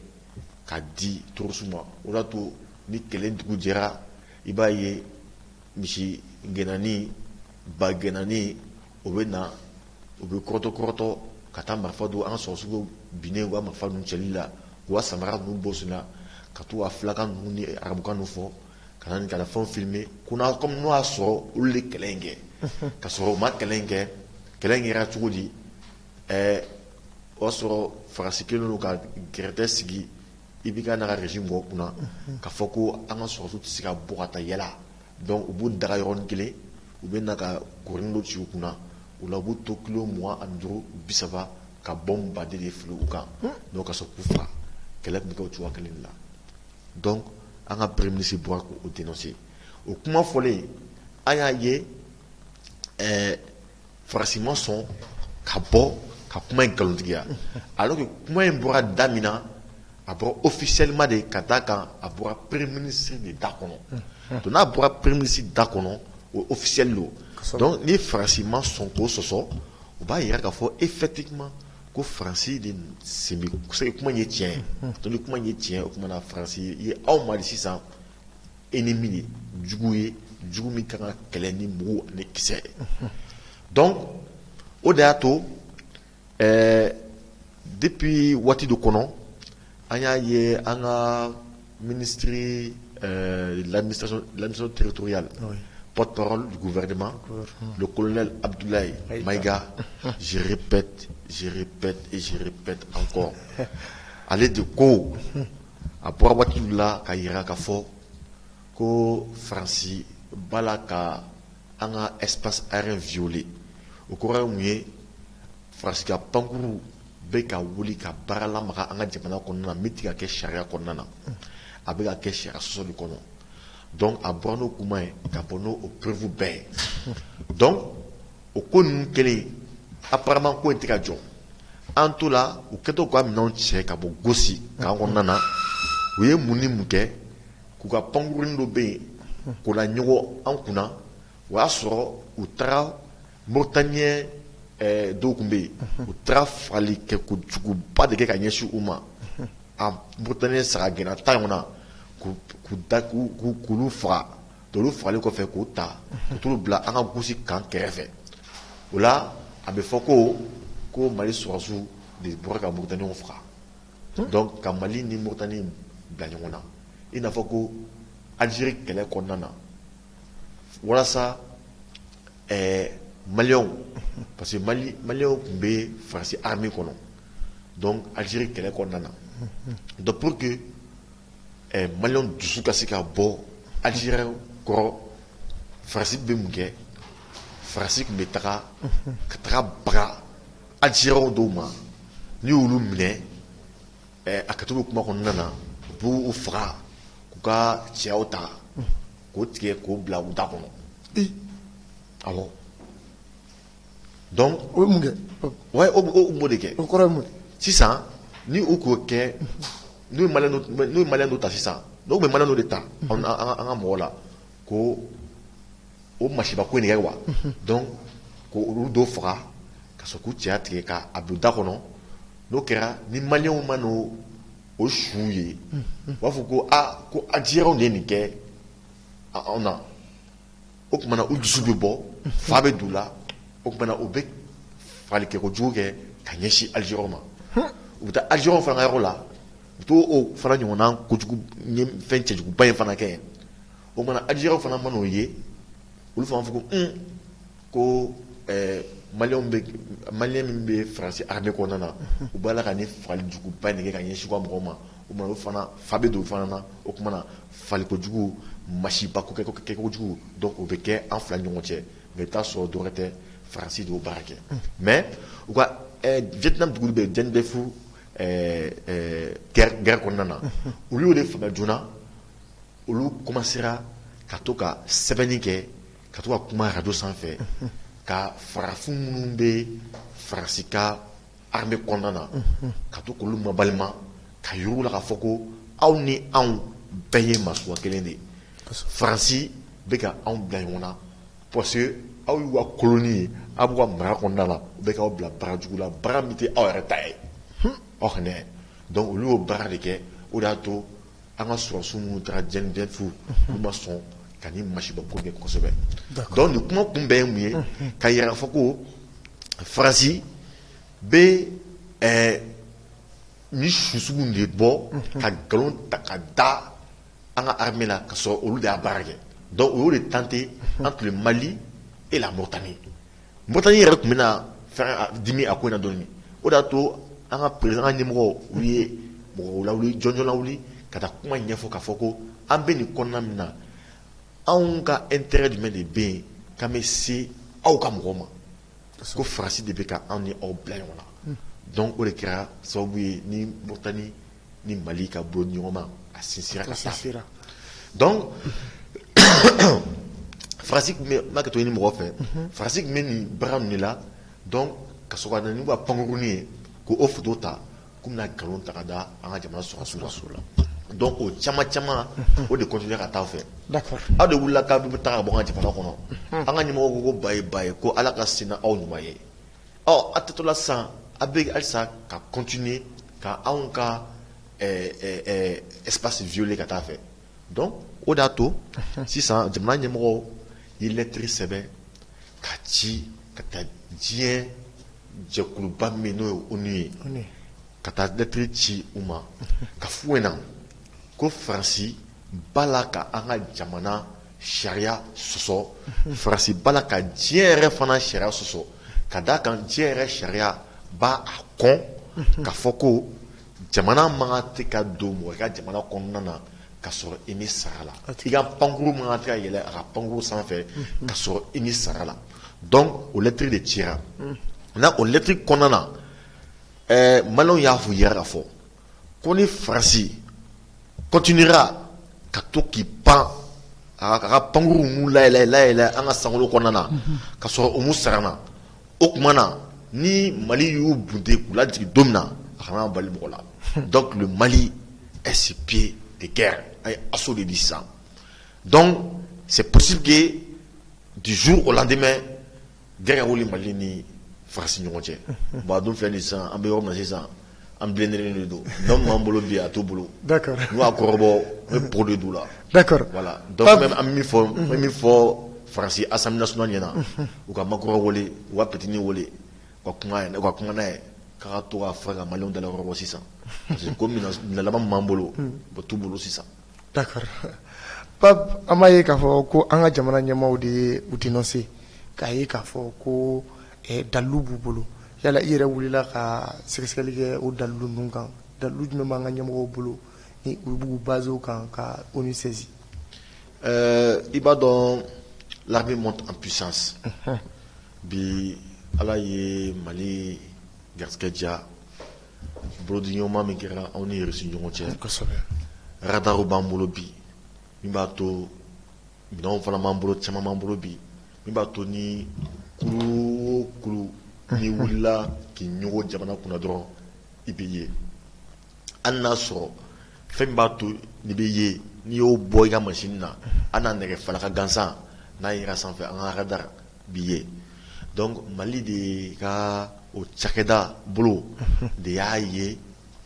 ka di terorisiw ma o de y'a to ni kelen dugu jɛra i b'a ye misi gɛnani ba gɛnani o bɛ na u bɛ kɔrɔtɔ kɔrɔtɔ ka taa marifa don an ka sɔrɔsiw binnen u ka marifa ninnu cɛli la u ka samara ninnu bɔ sen na ka to ka fulakan ninnu ni arabukan ninnu fɔ ka na nin ka na fɛnw filmer ko n'a comme n'o y'a sɔrɔ olu de kɛlɛ in kɛ ka sɔrɔ u ma kɛlɛ in kɛ kɛlɛ in kɛra cogo di ɛɛ o y'a sɔrɔ Faransi kɛlen don ka gɛrɛtɛ sigi IBK n'a ka régime mɔgɔw kunna k'a fɔ ko an ka sɔrɔsiw tɛ se ka bɔ ka taa yala Donc u b'u daga yɔrɔnin kelen u bɛ na ka kurunin dɔ ci u kunna o la u b'u to kilo mugan ani duuru bi saba ka bombarder de fili u kan donc ka sɔrɔ k'u faga kɛlɛ tun bɛ kɛ o cogoya kelen la donc an ka premier ministre bɔra k'o dénoncer o kuma fɔlen an y'a ye faransi ma sɔn ka bɔ ka kuma in nkalontigiya alors que kuma in bɔra da min na a bɔra officiellement de ka d'a kan a bɔra premier ministre de da kɔnɔ donc n'a bɔra premier ministre da kɔnɔ o officiel don donc ni faransi ma sɔn k'o sɔsɔ o b'a jira k'a fɔ effectivement ko faransi de sen bɛ kuma ye tiɲɛ ye donc ni kuma ye tiɲɛ o tuma na faransi ye aw ma sisan ennemi ye jugu ye jugu min ka kan ka kɛlɛ ni mugu ani kisɛ ye donc o de y'a to ɛɛ depuis waati dɔ kɔnɔ an y'a ye an ka ministre euh, de l'administration territoriale oui. porte-parole du gouvernement le colonel Abdoulaye Maïga je répète je répète et je répète encore ale de ko A bɔra waati dɔ la k'a jira k'a fɔ ko Faransi b'a la ka an ka espace aérien violer o kɔrɔ ye mun ye? Faransi ka pankurun bɛ ka wuli ka baara lamaga an ka jamana kɔnɔna na min tɛ ka kɛ sariya kɔnɔna na, a bɛ ka kɛ sariya sɔsɔ de kɔnɔ donc a bɔra n'o kuma ye ka bɔ n'o preuve bɛɛ ye donc o ko ninnu kelen apparemment ko in tɛ ka jɔ an to la u kɛtɔ ka minɛnw cɛ ka bɔ gosi kan kɔnɔna na u ye mun ni mun kɛ k'u ka pankurun dɔ bɛ yen ko la ɲɔgɔn an kunna o y'a sɔrɔ u taara moritaniyɛn dɔw tun bɛ yen u taara fagali kɛ ko juguba de kɛ ka ɲɛsin u ma a moritaniyɛn sagagɛnna tan ɲɔgɔnna k'olu faga olu fagalen kɔfɛ k'u ta t'olu bila an ka gosi kan kɛrɛfɛ o la a bɛ fɔ ko mali sɔrɔsiw de bɔra ka moritaniw faga donc ka mali ni moritani bila ɲɔgɔn na i n'a fɔ ko alizeri kɛlɛ kɔnɔna na walasa maliyɛnw parce que maliyɛnw tun bɛ faransi armée kɔnɔ alizeri kɛlɛ kɔnɔna na donc poroki maliyɛnw dusu ka se ka bɔ Algérie kɔrɔ faransi bɛ mun kɛ faransi tun bɛ taga ka taga baga Algériens dɔw ma n'u y'olu minɛ a ka to kuma kɔnɔna na u b' u faga k'u ka cɛyaw ta k'o tigɛ k'o bila u da kɔnɔ a Donc o ye mun kɛ u b'o de kɛ o kɔrɔ ye
mun
sisan ni u k'o kɛ n'u ye maliyɛn dɔ ta sisan u bɛ maliyɛn dɔ de ta an ka mɔgɔw la ko o masiba ko nin kɛ wa donc ko olu dɔ faga ka sɔrɔ k'u cɛya tigɛ k'a bila da kɔnɔ n'o kɛra ni maliyɛnw man'o su ye u b'a fɔ ko aa ko Algériens de ye nin kɛ anw na o tuma na u dusu bɛ bɔ fa bɛ don u la o tuma na u bɛ fagali kɛ kojugu kɛ ka ɲɛsin Algériens ma u bɛ taa Algériens fana yɔrɔ la u t'o o fana ɲɔgɔn kojugu fɛn cɛjuguba in fana kɛ o tuma na Algériens fana man'o ye olu fana fɔ ko ko maliyɛn maliyɛn min bɛ faransi armée kɔnɔna na u b'a la ka ni fagali juguba nin kɛ ka ɲɛsin u ka mɔgɔw ma o fana fa bɛ don o fana na o tuma na Fagali kojugu masiba ko kɛ kojugu donc o bɛ kɛ an fila ni ɲɔgɔn cɛ mais i bɛ taa sɔrɔ dɔwɛrɛ tɛ faransi de y'o baara kɛ mais u ka Vietnam dugu bɛ Dien Bien Phu gɛrɛ kɔnɔna na olu y'o de faamu joona olu komansera ka to ka sɛbɛnni kɛ ka to ka kuma arajo sanfɛ ka farafin minnu bɛ faransi ka armée kɔnɔna na ka to k'olu mabalima k'a yira u la k'a fɔ ko aw ni anw bɛɛ ye maa suguya kelen de ye faransi bɛ ka anw bila ɲɔgɔn na parce que aw y'u ka colonie ye aw b'u ka mara kɔnɔna la u bɛ k'aw bila baara jugu la baara min tɛ aw yɛrɛ ta ye aw donc olu y'o baara de kɛ o de y'a to an ka sɔrɔsiw minnu taara Dien Bien Phu olu ma sɔn ka ni masiba ko kɛ kosɛbɛ donc nin kuma kun bɛɛ ye mun ye k'a yira k'a fɔ ko faransi bɛ ni su sugu de bɔ ka nkalon ta ka da an ka armée la ka sɔrɔ olu de y'a baara kɛ donc u y'o de tenté entre mali et la Mauritanie Mauritanie yɛrɛ tun bɛna dimi a ko in na dɔɔni o de y'a to an ka président ɲɛmɔgɔw ye mɔgɔ lawuli jɔnjɔn lawuli ka taa kuma ɲɛfɔ k'a fɔ ko an bɛ nin kɔnɔna min na anw ka intérêt jumɛn de bɛ yen k'an bɛ se aw ka mɔgɔw ma ko faransi de bɛ ka anw ni aw bila ɲɔgɔn na donc o de kɛra sababu ye ni Mauritanie ni mali ka bolodiɲɔgɔnma a sinsinna ka sa sera donc faransi tun bɛ n'a ka to ni mɔgɔ fɛ faransi tun bɛ nin baara ninnu la donc ka sɔrɔ ka na n'u ka pankurun ye k'o photo ta k'u bɛna nkalon ta ka da an ka jamana sɔrɔdasiw la donc o caman caman o de continuer ka taa fɛ aw de wulila k'aw bɛ taa ka bɔ an ka jamana kɔnɔ an ka ɲɛmɔgɔ ko bye bye ko ala ka se n'aw ɲuman ye ɔ a tɛtola sisan a bɛ halisa ka continuer ka anw ka espace violer ka taa fɛ donc o de y'a to sisan jamana ɲɛmɔgɔ ye lettre sɛbɛn ka ci ka taa diɲɛ jɛkuluba min n'o ye ONU ye ka taa lettre ci u ma k'a f'u ɲɛna ko faransi b'a la ka an ka jamana Sariya sɔsɔ faransi b'a la ka diɲɛ yɛrɛ fana sariya sɔsɔ ka d'a kan diɲɛ yɛrɛ sariya b'a kɔn k'a fɔ ko jamana man kan tɛ ka don mɔgɔ ka jamana kɔnɔna na ka sɔrɔ i m'i sara a la i ka pankurun man kan tɛ ka yɛlɛ a ka pankurun sanfɛ ka sɔrɔ i m'i sara a la donc o lettre de cira maintenant o lettre kɔnɔna na ɛɛ maliyɛnw y'a fɔ yɛrɛ k'a fɔ ko ni farasi kɔtinira ka to k'i pan a ka pankkuruuru mu layɛlɛɛlɛɛlɛ an ka sankolo kɔnɔna na ka sɔrɔ u mu sarana o tumaumana na ni mali y'u bunte k'u la jigin don min na a kana bali mɔgɔ la dɔ tun bɛ mali ɛsip de kɛ a ye aso de di san dɔn se psike dusu o latɛmɛ Guerre ka wuli mali ni faransi ɲɔgɔn cɛ bon a dun filɛ nin sisan an bɛ yɔrɔ min na sisan an bilennen de don min b'an bolo bi a t'u bolo n'u y'a kɔrɔbɔ p de' la an bɛ min fɔ faransi assemblée nationale ɲɛna u ka Macron wele a ka Putini wele ka kuma ka kuma n'a ye ka to ka fara ka maliyɛnw dalakɔrɔbɔ sisan parce que ko minɛn laban min b'an bolo o t'u bolo sisan
D'accord an b'a ye k'a fɔ ko an ka jamana ɲɛmaaw de ye u dénoncé k'a ye k'a fɔ ko dalilu b'u bolo yala i yɛrɛ wulila ka sɛgɛsɛgɛli kɛ o dalilu ninnu kan dalilu jumɛn b'an ka ɲɛmɔgɔw bolo ni u b'u baser o kan ka ONU saisir
ɛɛ i b'a dɔn l'armée monte en puissance bi ala ye mali garijɛgɛ diya Bolodiɲɔgɔnma min kɛra anw ni Irisi ɲɔgɔn cɛ kosɛbɛ radarw b'an bolo bi min b'a to minɛnw fana b'an bolo caman b'an bolo bi min b'a to ni kurun o kurun n'i wulila k'i ɲɔgɔn jamana kunna dɔrɔn i bɛ ye hali n'a sɔrɔ fɛn min b'a to n'i bɛ ye n'i y'o bɔ i ka machine na hali n'a nɛgɛ falaka gansan n'a yera sanfɛ an ka da b'i ye donc Mali de ka o cakɛda bolo de y'a ye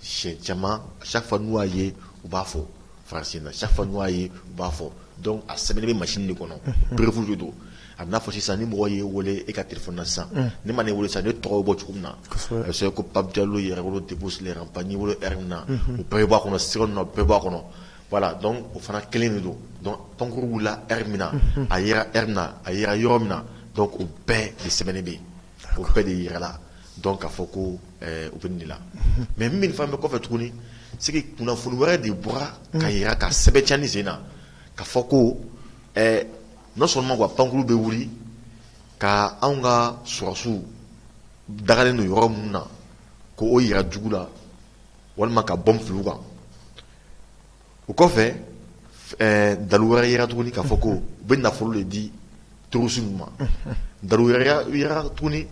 siɲɛ caman chaque fois n'u y'a ye u b'a fɔ France in na chaque fois n'u y'a ye u b'a fɔ donc a sɛbɛnnen bɛ machine de kɔnɔ preuve de don a b'i n'a fɔ sisan ni mɔgɔ y'e wele e ka téléphone na sisan ne man'i wele sisan ne tɔgɔ bɛ bɔ cogo min na a bɛ sɛbɛn ko Pape Diallo Yɛrɛwolo debout sur les remparts n'i welela heure min na o bɛɛ bɛ bɔ a kɔnɔ sɛbɛnnen don a bɛɛ bɛ bɔ a kɔnɔ. voilà donc o fana kelen de don donc pankurun wulila heure min na a yera heure min na a yera yɔrɔ min na donc o bɛɛ de sɛbɛnnen bɛ yen o bɛɛ de jirala donc k'a fɔ ko u bɛ de la mais min fana bɛ kɔfɛ tuguni c'est que kunnafoni wɛrɛ de bɔra k'a jira ka sɛbɛntiya an sen na k'a fɔ ko non seulement ko a pankurun bɛ wuli ka anw ka sɔrasiw dagalen don yɔrɔ minnu na k' o jira jugu la walima ka bombe fili u kan o kɔfɛ dalu wɛrɛ y'a jira tuguni k'a fɔ ko u bɛ nafolo de di terroristes ninnu ma dalu wɛrɛ y'a jira tuguni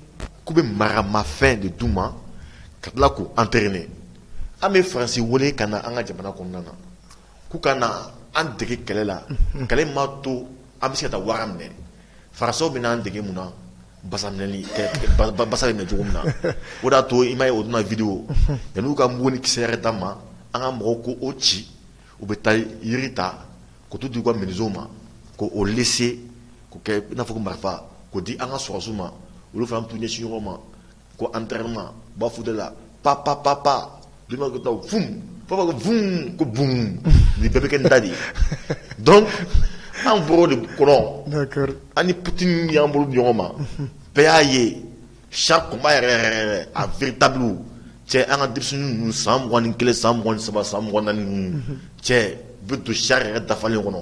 k'u bɛ maramafɛn de d'u ma ka tila k'u entraîner an bɛ France wele ka na an ka jamana kɔnɔna na k'u ka an dege kɛlɛ la kɛlɛ ma to an bɛ se ka taa wara minɛ Français bɛna an dege mun na Basa minɛni ɛ basa bɛ minɛ cogo min na o de y'a to i m'a ye o don na vidéo yani u ka mugu ni kisɛ yɛrɛ d'an ma an ka mɔgɔw k'o ci u bɛ taa jiri ta ka t'o di u ka menuisiers ma k'o lɛsɛ k'o kɛ i n'a fɔ ko marifa k'o di an ka sɔrasiw ma olu fana bɛ t'u ɲɛsin ɲɔgɔn ma Ko an tɛma ba fu de la pa pa pa pa bi ko bon ni bɛɛ bɛ kɛ da de ye dɔn an b de kɔrɔ an
pte
y'an bolo ɲɔgɔn ma bɛɛ y'a ye sa kunba yɛrɛ a v tabi cɛ an ka dusu ninnu san m2 kelen san m2 saba san m2 cɛ bi to sa yɛrɛ dafalen kɔnɔ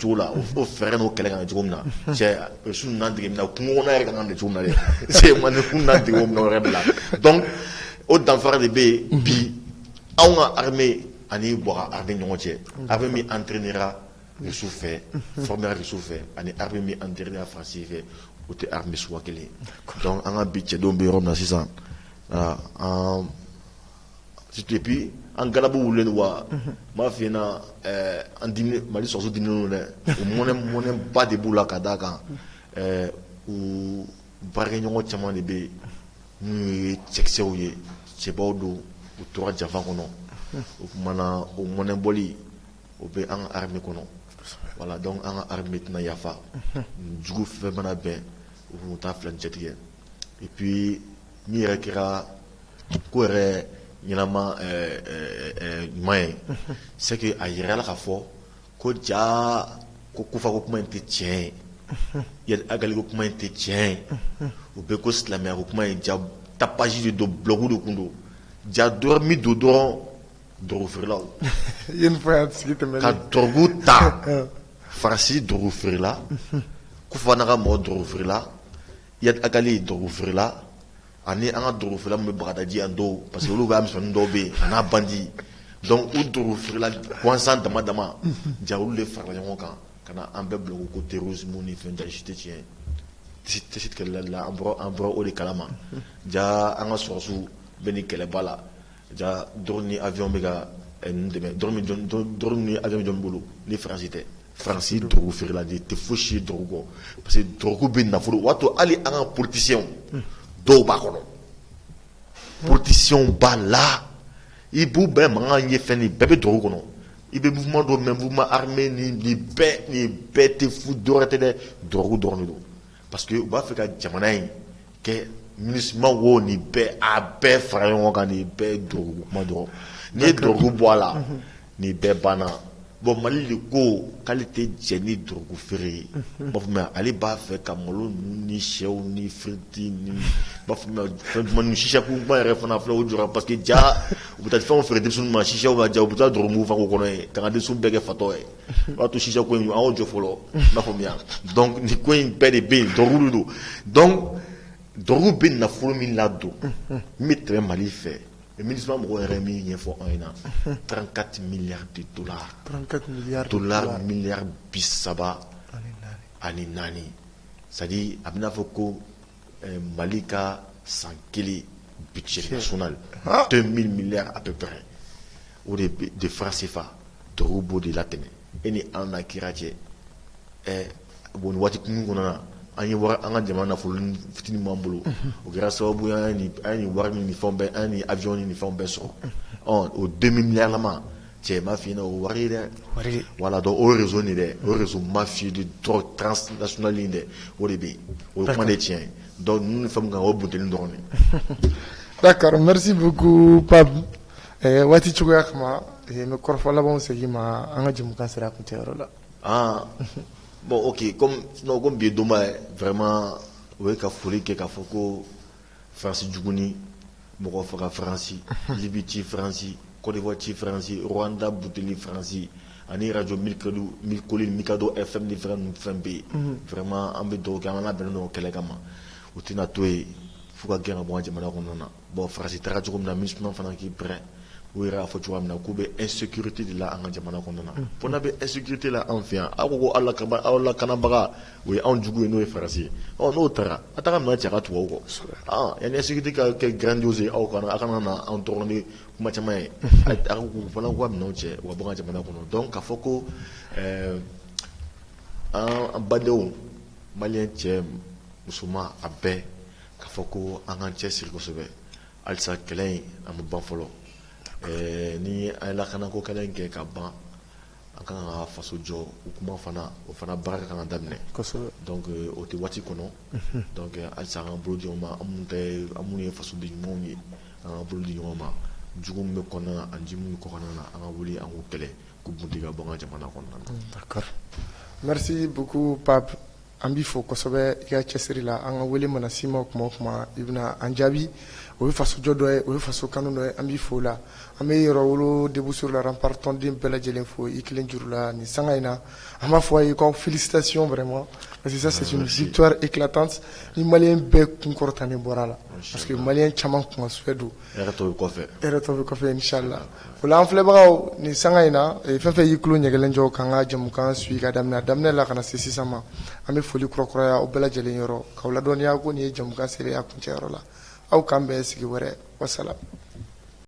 cogo la o fɛɛrɛ n'o kɛlɛ ka cogo min na cɛ su na kungokɔnɔ yɛrɛ ka kan ka cogo na dɛ se man kun na dege wɛrɛ bila dɔn o danfara de bɛ yen bi anw ka ha ani bɔ ha bɛ ɲɔgɔn cɛ a bɛ min an terirra misi fɛ fa misi fɛ ani ha bɛ an teri fasi fɛ o tɛ ha misi kelen an ka bi cɛdenw bɛ yɔrɔ na sisan an et puis an galabu wulilen don wa n b'a f'i ɲɛna an Mali sɔrasiw diminnen don u mɔnɛ mɔnɛba de b'u la ka d'a kan u baarakɛɲɔgɔn caman de bɛ yen n'u ye cɛkisɛw ye cɛbaw don u tora janfa kɔnɔ o tuma na o mɔnɛbɔli o bɛ an ka armée kɔnɔ voilà donc an ka armée tɛna yafa jugu fɛn mana bɛn u taa fila cɛtigɛ et puis min yɛrɛ kɛra ko yɛrɛ ɲɛnama ɲuman ye c'est que a yirala k'a fɔ ko jaa ko Kufa ko kuma in tɛ tiɲɛ ye Ag Ghali ko kuma in tɛ tiɲɛ ye o bɛɛ ko silamɛya ko kuma in jaa tapage de don blɔgu de tun don jaa dɔrɔn min don dɔrɔn drogue
feerelaw ka drogue ta
Faransi drogue feerela Kufa n'a ka mɔgɔ drogue feerela Iyad Ag Ghali drogue feerela ani an ka drogue feerela min bɛ Bagadaji an don parce que olu bɛ mi dɔw bɛ yen an na bandi u drogue feerela gansan dama dama jaa olu de farala ɲɔgɔn kan ka na an bɛɛ bila ko terrorisme ni fɛn tɛ si tɛ tiɲɛ tɛlala an an bɔra o de kalama jaa an ka sɔsɔ bɛɛ ni kɛlɛba la jaa drone ni avion bɛ ka dɛmɛ drone ni avion bɛ jɔn bolo ni Faransi tɛ Faransi drogue feerela de tɛ foyi si drogue kɔ parce que drogue bɛ nafolo o b'a to hali an ka politicienw dɔw b'a kɔnɔ politicienw b'a la i b'u bɛɛ mankan ye fɛn bɛɛ bɛ drogue kɔnɔ i bɛ mouvement dɔw mɛn mouvement armé ni nin bɛɛ tɛ fu dɔwɛrɛ tɛ dɛ drogue dɔrɔn don parce que u b'a fɛ ka jamana in kɛ ministre wo nin bɛɛ a bɛɛ fara ɲɔgɔn kan nin bɛɛ drogue kuma dɔrɔn n'i ye drogue bɔ a la nin bɛɛ banna bon Mali de ko k'ale tɛ jɛn ni drogue feere ye bon ale b'a fɛ ka malo ni shɛw ni frites ni ba chicha ko ba yɛrɛ fana fɔlɔ jɔ parce que jaa u bɛ taa fɛnw feere denw ma chicha ka jaa u bɛ taa drogue fa a kɔnɔ yen ka denw bɛɛ kɛ fatɔ ye b'a to chicha ko aw jɔ fɔlɔ b'a faamuya ni ko in bɛɛ de bɛ yen drogue de don donc drogue bɛ nafolo min ladon min bɛ tɛmɛ Mali fɛ Mini mɔgɔ yɛrɛ ye min ɲɛfɔ anw in na taararankati mi de
tora mi
bi saba ani naani sa a bɛ'a fɔ ko mali ka san kelen bi sɔn to mi a bɛ o de de fasifa tobabu b'o de la tɛmɛ e ni an na kira cɛ ɛ bon waati kunkurun na an ye an ka jamana nafolo fitinin min b'an bolo o kɛra sababu an ye wari ni fɛn bɛɛ ani avion ni fɛn bɛɛ sɔrɔ ɔ o deux milliards la ma cɛ ma fna o wari dɛ voilà
donc o
réseau nin dɛ o réseau mafia transnational dɛ o de bɛ yen o kuma de tiɲɛ donc ninnu fɛn kan o bon dɔɔnin' d'accord
merci beaucoup pa Ɛɛ waati cogoya kama n bɛ kɔrɔfɔ laban segin i ma an ka jɛmukan sera a kuncɛyɔrɔ la
aa bon ok comme bi ye donba ye vraiment o ye ka foli kɛ k'a fɔ ko faransi juguni mɔgɔ faga faransi Libi ci faransi Côte d'Ivoire ci faransi Rwanda butli faransi ani radio Mille Collines Mikado FM ni fɛn bɛ yen vraiment an bɛ dugawu kɛ an labɛnnen don o kɛlɛ kama u tɛna to yen f'u ka gɛn ka bɔ jamana kɔnɔna na Bon faransi taara cogo min na MINUSMA fana k'i prêt u yɛrɛ y'a fɔ cogoya min na k'u bɛ insécurité de la an ka jamana kɔnɔna na f'u bɛ insécurité la an fɛ yan aw ko a laka aw lakanabaga o ye anw jugu ye n'o ye faransi ye ɔ n'o taara a taara ka cɛ ka tugu a kɔ yanni insécurité ka kɛ grandiose ye aw kana aw kana na anw dɔgɔnin ni kuma caman ye k'u fana k'u ka minɛn cɛ u ka bɔ an ka jamana kɔnɔ donc k'a fɔ ko an badenw maliyɛn cɛ musoman a bɛɛ K'a fɔ ko an k'an cɛsiri kosɛbɛ halisa kɛlɛ in ma ban fɔlɔ ni an ye lakanako kɛlɛ in kɛ ka ban an ka kan ka faso jɔ o kuma fana o fana baara ka kan ka daminɛ o tɛ waati kɔnɔ halisa an k'an bolo di ɲɔgɔn ma an minnu ye fasoden ɲumanw ye an k'an bolo di ɲɔgɔn ma jugu min bɛ kɔnɔna na ani jugu min bɛ kɔkanna na an ka wuli an k'u kɛlɛ k'u boli ka bɔ an ka jamana kɔnɔna
na an b'i fo kosɛbɛ i ka cɛsiri la an ka wele mana s'i ma kuma o kuma i bɛna an jaabi o ye fasojɔ dɔ ye o ye faso kanu dɔ ye an b'i fo o la an bɛ Yɛrɛwolo debout sur les remparts tɔnden bɛɛ lajɛlen fo i kelen juru la nin sanga in na an b'a fɔ a ye k'aw félicitations vraiment parce que ça c'est une victoire éclatante ni maliyɛn bɛɛ kun kɔrɔtanen bɔra a la parce que maliyɛn caman kunkan souhait don an filɛbagaw nin sanga in na fɛn fɛn y'i tulo ɲɛgɛnlen jɔ k'an ka jɛmukan suivre ka daminɛ a daminɛ la ka na se sisan ma an bɛ foli kura kuraya aw bɛɛ lajɛlen yɔrɔ k'aw ladɔnniya ko nin ye jɛmukan selen ye a kuncɛyɔrɔ la aw k'an bɛn sigi wɛrɛ wasalam